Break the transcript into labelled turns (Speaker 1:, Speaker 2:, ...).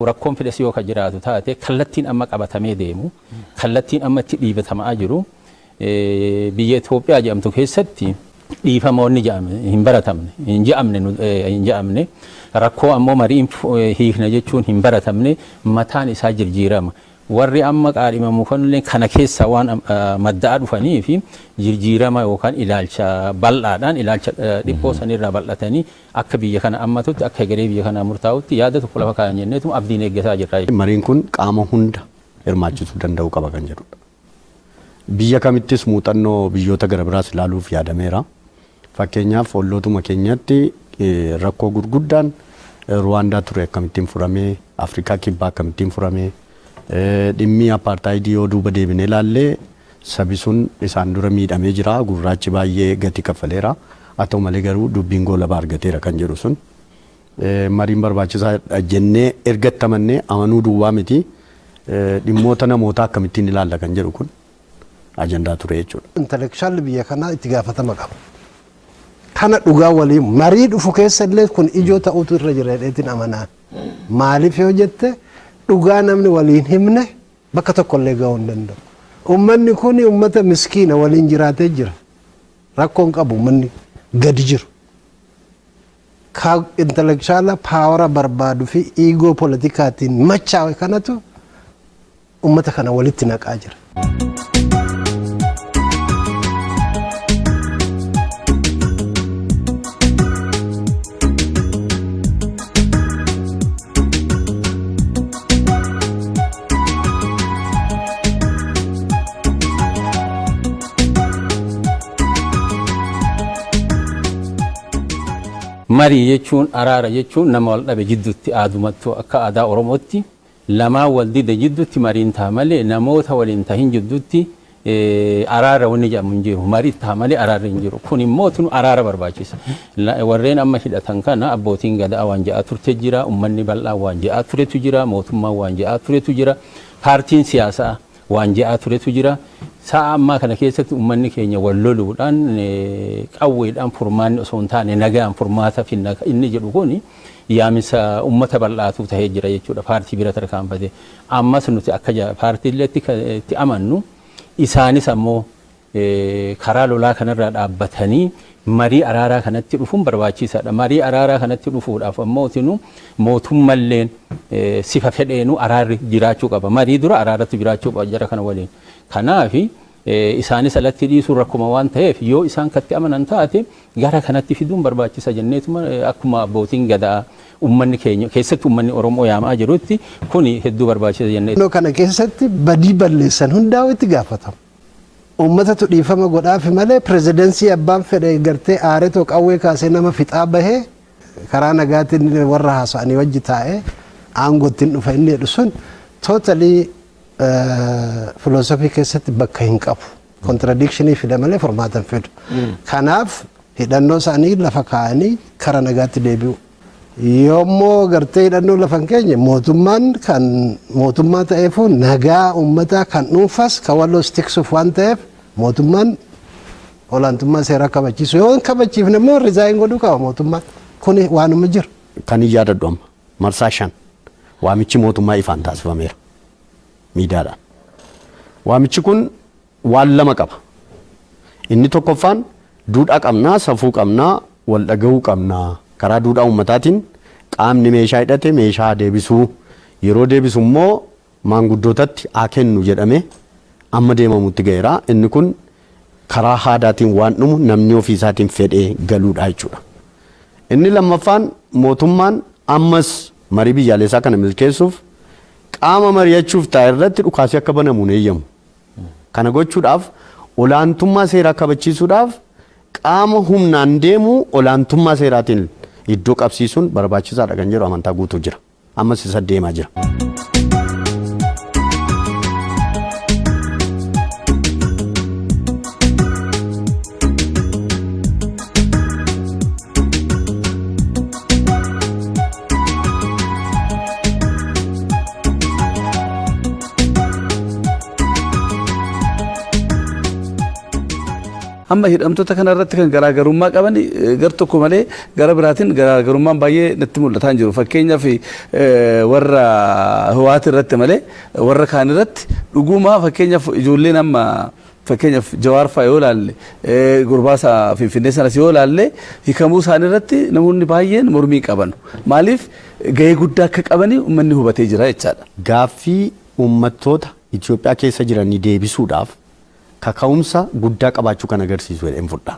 Speaker 1: rakkoon fidas yoo ka jiraatu taate kallattiin amma qabatamee deemu kallattiin amma itti dhiibatamaa jiru biyya Itoophiyaa jedhamtu keessatti dhiifamoonni jedhame hin baratamne hin jedhamne hin jedhamne rakkoo ammoo mariin hiikna jechuun hin baratamne mataan isaa jirjiirama. Warri amma qaadhimamuufanilleen kana keessaa waan madda'aa dhufaniif jirjiirama yookaan ilaalcha bal'aadhaan ilaalcha dhiphoo sanirraa bal'atanii akka biyya kana ammatutti akka hegeree biyya kanaa murtaa'utti yaada tokko lafa kaayan jenneetuma abdiin eeggataa jirra jechuudha. Mariin kun qaama
Speaker 2: hunda hirmaachisuu danda'uu qaba kan jedhudha. Biyya kamittis muuxannoo biyyoota garabiraas ilaaluuf yaadameera. Fakkeenyaaf ollootuma keenyatti rakkoo gurguddaan Ruwaandaa ture akkamittiin furame, Afrikaa Kibbaa akkamittiin furame, dhimmi Appaartaayidii yoo duuba deebinee ilaalle sabi sun isaan dura miidhamee jira, gurraachi baay'ee gatii kaffaleera, haa ta'u malee garuu dubbiin goolaba argateera kan jedhu sun mariin barbaachisaa dha jennee erga itti amannee amanuu duwwaa miti, dhimmoota namootaa akkamittiin ilaalla kan jedhu kun ajandaa ture jechuudha. Intelekshaalli biyya kanaa
Speaker 3: itti gaafatama qaba. Kana dhugaa waliin marii dhufu keessa illee kun ijoo ta'utu irra jira jedheetiin amanaa. Maaliif yoo jette dhugaa namni waliin himne bakka tokko illee gahuu hin danda'u. Uummanni kun uummata miskiina waliin jiraatee jira. Rakkoon qabu uummanni gadi jiru. Ka intelekshaalaa paawara barbaadu fi iigoo politikaatiin machaa'e kanatu ummata kana walitti naqaa jira.
Speaker 1: Marii jechuun araara jechuun nama wal dhabe jidduutti aadumattuu akka aadaa Oromootti lamaan wal dide jiddutti mariin taha malee namoota wal hin tahin jiddutti araara wanni jedhamu hin jiru. Mari taha malee araarri hin jiru. Kun immoo tunu araara barbaachisa. Warreen amma hidhatan kana abbootiin gadaa waan jedhaa turte jira, ummanni bal'aan waan jedhaa turetu jira, mootummaan waan jedhaa turetu jira, paartiin siyaasaa waan jedhaa turetu jira. Sa'a ammaa kana keessatti ummanni keenya wal loluudhaan, qawweedhaan furmaanni osoo hin taane nagaan furmaata finna inni jedhu kun yaaminsa ummata bal'aatuu tahee jira jechuudha paartii bira tarkaanfatee. Ammas nuti akka paartiilleetti kan itti amannu isaanis ammoo karaa lolaa kanarraa dhaabbatanii marii araaraa kanatti dhufuun barbaachiisaadha. Marii araaraa kanatti dhufuudhaaf ammootinu mootummalleen sifa fedheenu araarri jiraachuu qaba. Marii dura araaratu jiraachuu qaba jara kana waliin. Kanaaf isaanis alatti dhiisuun rakkuma waan ta'eef yoo isaan katti amanan taate gara kanatti fiduun barbaachisa jenneetuma akkuma abbootiin gadaa ummanni keenya keessatti ummanni Oromoo yaamaa jirutti kuni hedduu barbaachisa jennee. Naannoo kana keessatti
Speaker 3: badii balleessan hundaa'u itti gaafatamu. Ummatatu dhiifama godhaafi malee pirezidansii abbaan fedhe gartee aaretoo qawwee kaasee nama fixaa bahee karaa nagaatiin warra haasa'anii wajji taa'ee aangootti hin dhufa inni jedhu sun totally filoosofii keessatti bakka hin qabu. Kontiradikshinii fida malee furmaata hin fidu. Kanaaf hidhannoo isaanii lafa kaa'anii kara nagaatti deebi'u. Yoommoo gartee hidhannoo lafa hin keenye mootummaan kan mootummaa ta'eefuu nagaa uummataa kan dhuunfas kan walloos tiksuuf waan ta'eef mootummaan olaantummaa seeraa kabachiisu yoo hin kabachiifne immoo rizaayin godhuu qaba mootummaan kun waanuma jiru. Kan hin yaadadhu amma
Speaker 2: marsaa shan waamichi mootummaa ifaan taasifameera miidiyaadhaan. Waamichi kun waan lama qaba. Inni tokkoffaan duudhaa qabna, safuu qabna, wal dhagahuu qabna. Karaa duudhaa uummataatiin qaamni meeshaa hidhate meeshaa haa deebisu. Yeroo deebisu immoo maanguddootatti haa kennu jedhamee amma deemamutti gaheera. Inni kun karaa haadaatiin waan dhumu namni ofii isaatiin fedhee galuudha jechuudha. Inni lammaffaan mootummaan ammas marii biyyaaleessaa kana milkeessuuf qaama mari'achuuf taa'e irratti dhukaasi akka banamu hin eeyyamu. Kana gochuudhaaf olaantummaa seeraa kabachiisuudhaaf qaama humnaan deemu olaantummaa seeraatiin iddoo qabsiisuun barbaachisaadha kan jedhu amantaa guutuu jira. Ammas isa deemaa jira.
Speaker 4: Amma hidhamtoota kana irratti kan garaagarummaa qaban eh, gar tokko malee gara biraatiin garaagarummaan baay'ee natti mul'ataa hin jiru. Fakkeenyaaf eh, warra Hiwaati irratti malee warra kaan irratti dhugumaa fakkeenyaaf ijoolleen amma Fakkeenyaaf Jawaar fa'a yoo ilaalle, gurbaa isa Finfinnee sanas yoo ilaalle hikamuu isaanii irratti namoonni baay'een mormii hin qabanu. Maaliif gahee guddaa akka qabani ummanni hubatee jira jechaadha. Gaaffii
Speaker 2: ummattoota Itoophiyaa keessa jiranii deebisuudhaaf kaka'umsa guddaa qabaachuu kan agarsiisu jedheen fudha.